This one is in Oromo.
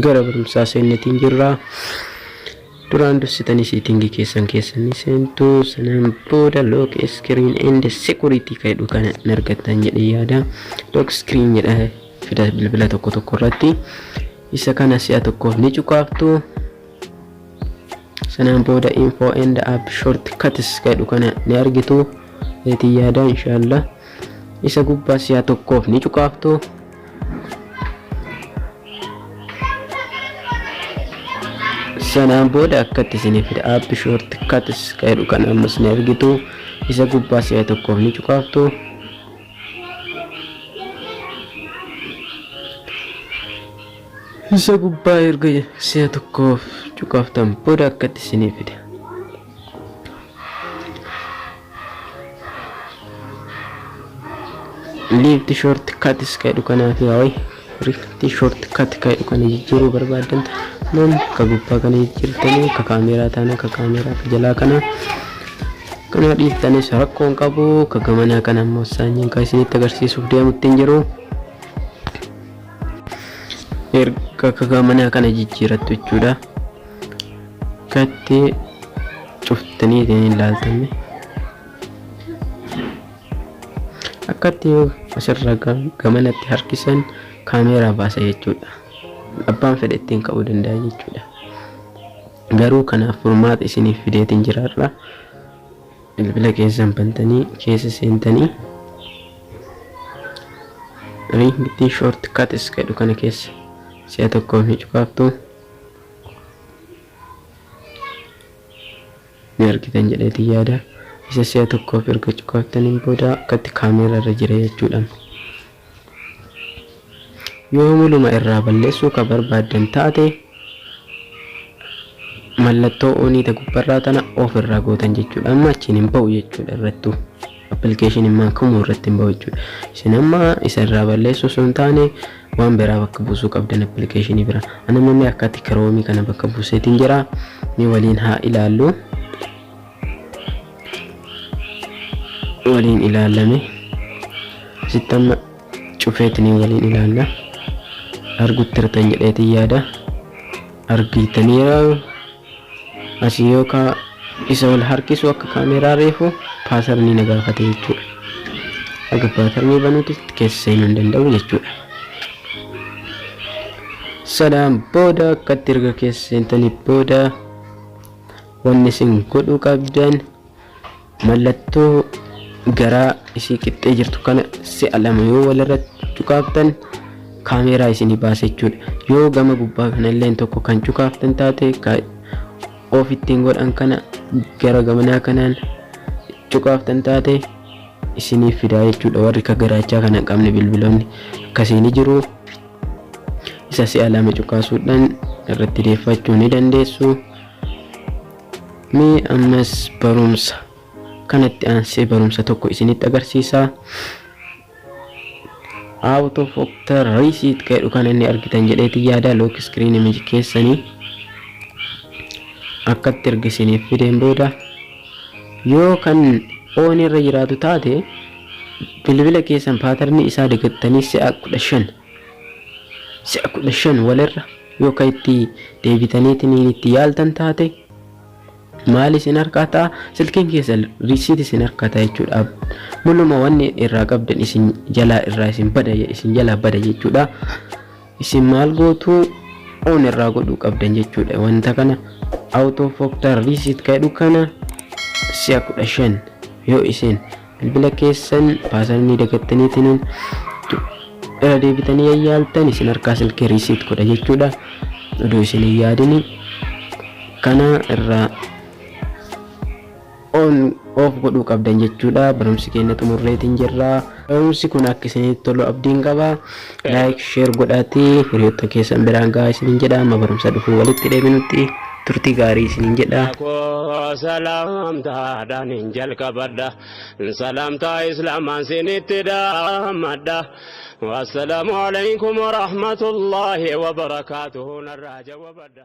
Gara barumsaa seennetiin jirra. Duraan dursitanii siitingii keessan keessanii seentu sanaan booda lock screen and security ka jedhu kana hin argattan jedhee yaada. Lock screen jedha fida bilbila tokko tokko irratti. Isa kana si'a tokkoof ni cuqaaftu. Sanaan booda info and app short cuts ka jedhu kana ni argitu. Eetii yaada inshaallah. Isa gubbaa si'a tokkoof ni cuqaaftu. sanaan booda akkatti isiniif fida app short cuts jedhu kan amma isin argitu isa gubbaa si'a tokkoof ni cuqaaftu isa gubbaa erga si'a tokkoof cuqaaftan booda akkatti isiniif fida liifti short katis ka jedhu kanaaf yaa wayi liifti short kat ka jedhu kana jijjiiruu barbaadan taanaan ka gubbaa kana jijjiirtanii ka kaameeraa taanaan ka kaameeraa ka jalaa kana kana dhiiftanis rakkoon qabu ka gamanaa kana ammoo saanyiin ka isinitti agarsiisuuf deemutti hin jiru. erga kakaamanii akkana jijjiirattu jechuudha kattee cuftanii ittiin hin laaltanne akkatti yoo asirra gamanatti harkisan kaameeraa baasa jechuudha abbaan fedhe ittiin ka'uu danda'a jechuudha garuu kanaaf furmaata isiniif fideetiin jiraadha. Bilbila keessan bantanii keessa seentanii riingitii short cuts jedhu kana keessa si'a tokkoof ni cufaaftu ni argitan jedheetii yaada. Isa si'a tokkoof erga cufaaftaniin booda akkatti kaameera irra jira jechuudha. Yoo maluma irraa balleessuu ka barbaaddan taate mallattoo onii ta gubbarraa tana of irraa gootan jechuudha. Amma achiin hin ba'u jechuudha irrattuu. Appilikeeshin immaan kamuu irratti hin ba'u jechuudha. Isin amma isa irraa balleessuu osoo hin taane waan biraa bakka buusuu qabdan appilikeeshinii bira. Anamamee akkatti kiroomii kana bakka buuseetiin jira. Ni waliin haa ilaallu. waliin ilaallame asitti amma cufeetiniin waliin ilaalla arguttirtan jedheetiin yaada argiitaniira asii yookaa isa wal harkisu akka kaameeraa reefu paasarnii na gaafate jechuudha aga paasarnii banuuti keessa seenuu hin danda'u jechuudha sanaan booda akkatti erga keessa seentanii booda Wanni isin godhuu qabdan mallattoo garaa isii qixxee jirtu kana si'a lama yoo walirratti cuqaaftan kaameeraa isinii baasa jechuudha. Yoo gama gubbaa kanalleen tokko kan cuqaaftan taate ka of ittiin godhan kana gara gamanaa kanaan cuqaaftan taate isiniif fidaa jechuudha. Warri ka garaachaa kana hin qabne bilbiloonni akkasii ni jiru. Isa si'a lama cuqaasuudhaan irratti deeffachuu ni dandeessu. Mee ammas barumsa kanatti aansee barumsa tokko isinitti agarsiisaa. Out of Octar Receipt ka jedhu kana inni argitan jedheeti yaada lock screen image keessanii akkatti erga isiniif fideen booda yoo kan oon irra jiraatu taate bilbila keessan paatarnii isaa dagattanii si'a kudha shan Si'a 15 walirra yoo ka itti deebitaniitiniin itti yaaltan taate maal isin harkaa ta'a? Silkiin keessan receipt isin harkaa ta'a jechuudha. Muluma wanni irraa qabdan isin jalaa irraa isin bada isin jalaa bada jechuudha. Isin maal gootu on irraa godhuu qabdan jechuudha. Wanta kana out of factor receipt ka jedhu kana si'a 15 yoo isin bilbila keessan paasar ni dagattaniitiin irra deebitanii yayyaaltan isin harkaa silkii riisiit godha jechuudha oduu isin hin yaadini kana irraa on of godhuu qabdan jechuudha barumsi keenya xumurreetiin jirra barumsi kun akka isinitti tolu abdiin qaba Like share godhaati hiriyotta keessan biraan gahaa isinin jedha amma barumsa dhufu walitti deebinutti turtii gaarii isinin jedha. Koo salaamtaadhaan hin jalqabadha salaamtaa islaamaan sinitti dhaammadha wassalaamu alaykum warahmatullaahi wabarakaatuhu narraa jawabadha.